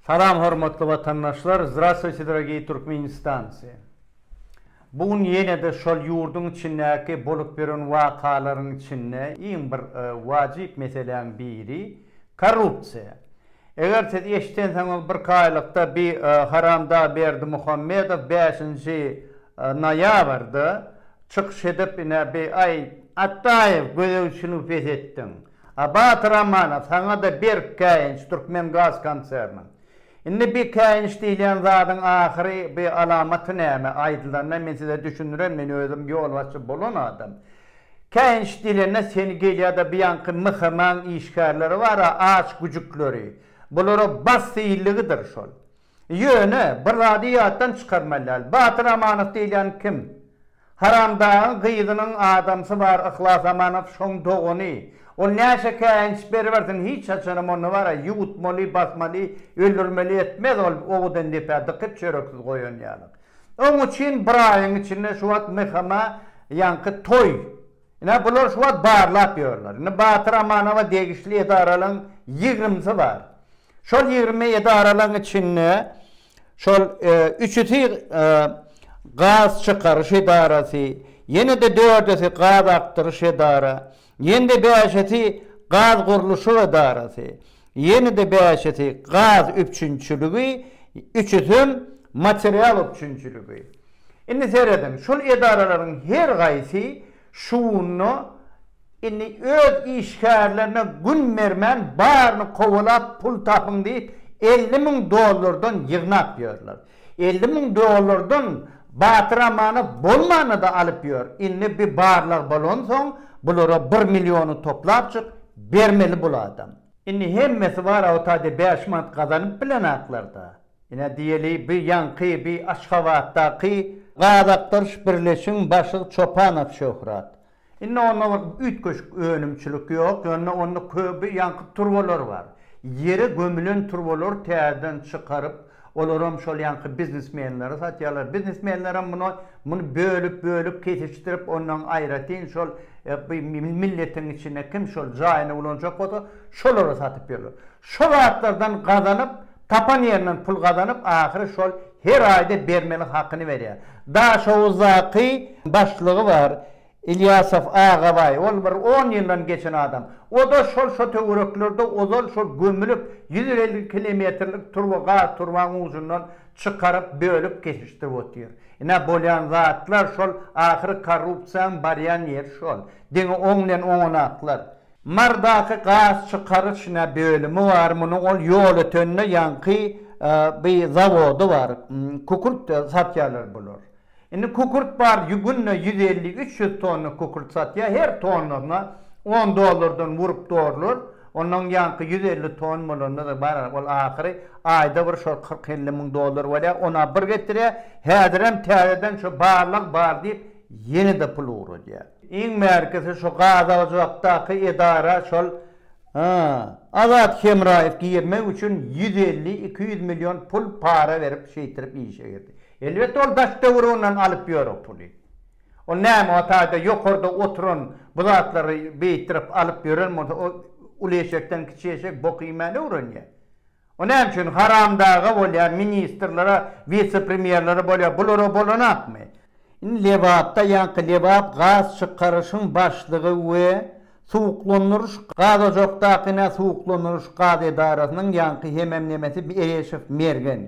Salam hormatly watandaşlar Zdravstwuyte dorogiý Turkmenistancy Bu gün ýenede şol ýurduň içindäki bolup ýören wakalaryň içinde iň bir wajyp meseläň biri korrupsiýa eger siz eşidensiňiz bir kaýlykda bi haramdag Berdimuhamedow bäşinji noýabrda çykyş edip ine bi aý Atdaýew gözegçiligi pes etdiň A Batyr Amana saňa-da berk käýinç Türkmengaz konserniň. Indi bi käýinç diýilýän zadyň ahyry bi alamaty näme? Aýdylanda men size düşündiren men özüm ýolbaşçy bolan adam. Käýinç diýilende seni gelýada bi ýaňky MHM-aň işgärleri bar-a aç güjükleri. Bulara bas diýildigidir şol. Ýöne, bir zady ýatdan çykarmaly däl, Batyr Amanow diýilýän kim? Haramdagyň gyzynyň adamsy bar Yhlas Amanow, şoň dogany. Ol näçe käýinç beribersin, hiç haçanam ony bar-a, ýuwutmaly, basmaly, öldürmeli etmez ol owadan depä dykyp çöreksiz goýan ýaly. Oň üçin bir aýyň içinde şu wagt MHM-a ýaňky toý Ine, bular şu wagt barlap ýörler. Indi Batyr Amanowa degişli edaralaryň ýigrimisi bar. Şol ýigrimi edaralaryň içinde şol üçüsi gaz çykaryş edarasy, ýene-de dördüsi gaz akdyryş edara, ýene-de bäşisi gaz gurluşyk edarasy. Ýene-de bäşisi gaz üpjünçiligi, üçüsem material üpjünçiligi. Indi serediň, şol edaralaryň her gaýsy şuunda indi öz işgärlerine gün bermän baryny kowalap pul tapyň diýip elli müň dollardan ýygnap ýörler. Elli müň dollardan Batyr amana bolmana-da alyp ýör. Indi bi barlag bolansoň, bulara bir milliony toplapjyk bermeli bul adam. Indi hemmesi bar awtade bäş manat gazanyp bilenaklarda. Ine diýeli bi ýaňky bi Aşgabatdaky. Gazakdyrş birleşigiň başlygy Çopanow Şöhrat. Indi onda bir üýtgeşik önümçilik ýok, ýöne onda köp ýaňky turbalar bar. Ýere gömülen turbalary täzeden çykaryp, olaram şol ýaňky biznesmenlere satýarlar. Biznesmenlerem muny muny bölüp, bölüp, kesişdirip, ondan aýratyn şol milletiň içinde kim şol jaýyny ulanjak bolsa, şolara satyp ýörler. Şo zatlardan gazanyp, tapan ýerinden pul gazanyp, ahyry şol Her aýda bermeli hakyny berýär. Daşoguzdaky başlygy bar, Ilýasow Agabaý. Ol bir on ýyldan geçen adam. O-da şol şo töwereklerde ozal şol gömülip, ýüz elli kilometrlik turba gaz turbany ujundan çykaryp, bölüp kesişdirip otyr. Ine, bolýan zatlar şol, ahyry korrupsiýaň barýan ýeri şol. Diňe oň bilen oňanaklar. Mardaky gaz çykaryş nä bölümi bar munuň ol ýol ötende ýaňky by zawody bar kükürt satýarlar bular indi kükürt bar günde ýüz elli üç ýüz tonna kükürt satýar her tonnasyna on dollardan wurup dorlar onnoň ýaňky ýüz elli ton bolanda bar ol ahyry aýda bir şol kyrk elli müň dollar bolýar ona bir getirýär häzirem täzeden şo barlag bar diýip ýene de pul ugradýar. Iň bärkisi şu gazagjuakdaky edara şol Azat Hemraýew girmek üçin ýüz elli, iki ýüz million pul para berip şeýtirip işe girdi. Elbetde ol daş döwür ondan alyp ýör o puly. Ol näme o taýda ýokarda oturan bu zatlary beýtdirip alyp ýören bolsa o uly eşekden kiçi eşek bok iýmäni öwrenýär. O näme üçin haramdaga bolýar, ministrlere, wise-premýerlere bolýar, bulara bolanakmy? Indi Lebapda ýaňky Lebap gaz çykaryşyň başlygy we suwuklandyryş gazojakdakyna suwuklandyryş gaz edarasynyň ýaňky hemem nemesi Ereşew Mergen.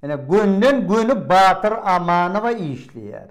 Ene gönden göni Batyr Amanowa işleýär.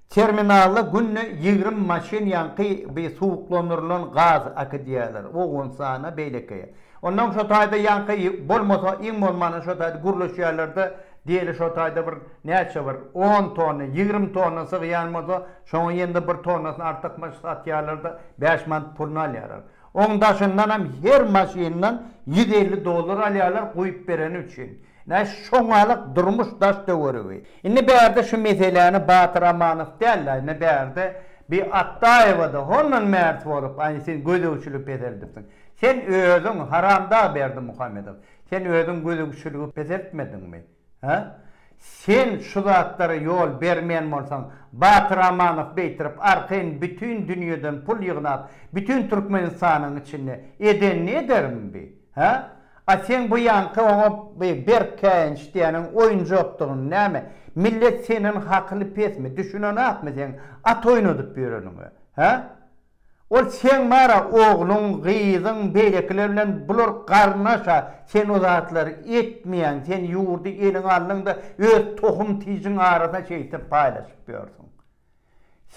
Terminala günde ýigrimi maşyn ýaňky bi suwuklandyrylan gaz akydýarlar, Owganystana, beýleki. Ondan şo taýda ýaňky bolmasa, iň bolmanda şo taýda gürleşýärler-de, diýeli şo taýda bir näçe bir on tonna, ýigrimi tonna sygýan bolsa, şoňa ýene-de bir tonnasyny artykmaç satýarlar-da, bäş manat puluny alýarlar. Oň daşyndanam her maşyndan ýüz elli dollar alýarlar guýup bereni üçin. Nä şoňalyk durmuş daş töweregi. Indi bärde şu meseläni Batyr Amanow däl-de, indi bärde bi Atdaýewa-da hondan märt bolup, aý sen gözegçiligi peseldipsiň. Sen özüň, haramdag Berdimuhamedow, sen özüň gözegçiligi peseltmediňmi? Hä? Sen şu zatlara ýol bermeýän bolsaň, Batyr Amanow beýtirip arkaýyn bütin dünýeden pul ýygnap, bütin Türkmenistanyň içinde edenini edermi bi? Hä? A seň bu ýaňky oňa bi berk käýinç diýýäniň oýunjakdygyny näme, millet senden hakyly pesmi, düşünenakmy seň at oýnadyp ýöreniňe? Hä? Ol Seň bara ogluň, gyzyň, beýlekiler bilen bular garyndaş-a, sen o zatlary etmeýäň, sen ýurdy eliňe aldyň-da, öz tohum-tijiň arasynda şeýtip paýlaşyp ýörsüň.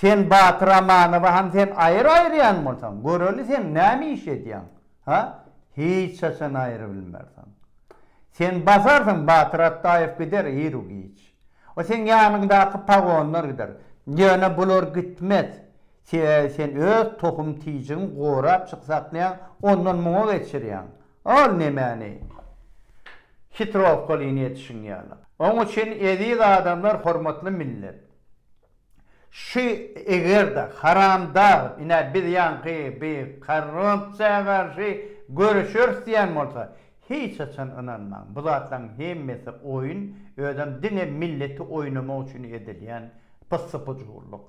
Sen Batyr Amanowy ham sen aýyr aýyrýan bolsaň, göreli sen näme iş edýäň, ha? Hiç haçan aýyr bilmersiň. Sen basarsyň, Batyr Atdaýew gider iru-giç. O seň ýanyňdaky pagonlar gider. Ýöne bular gitmez. Sebäbi sen öz tohum tijigiň gorap çyksaknýaň ondan muňa geçirýäň. Ol nemäni? Hitrowkalyny etişiň ýaly. Oň üçin eziz adamlar hormatly millet. Şu egerde haramdag ine biz ýaňky bi korrupsiýa garşy göreşeris diýen bolsa hiç haçan ynanmaň bu zatlaň hemmesi oýun özem diňe milleti oýnamak üçin edilýän pyssy-pujurlyk.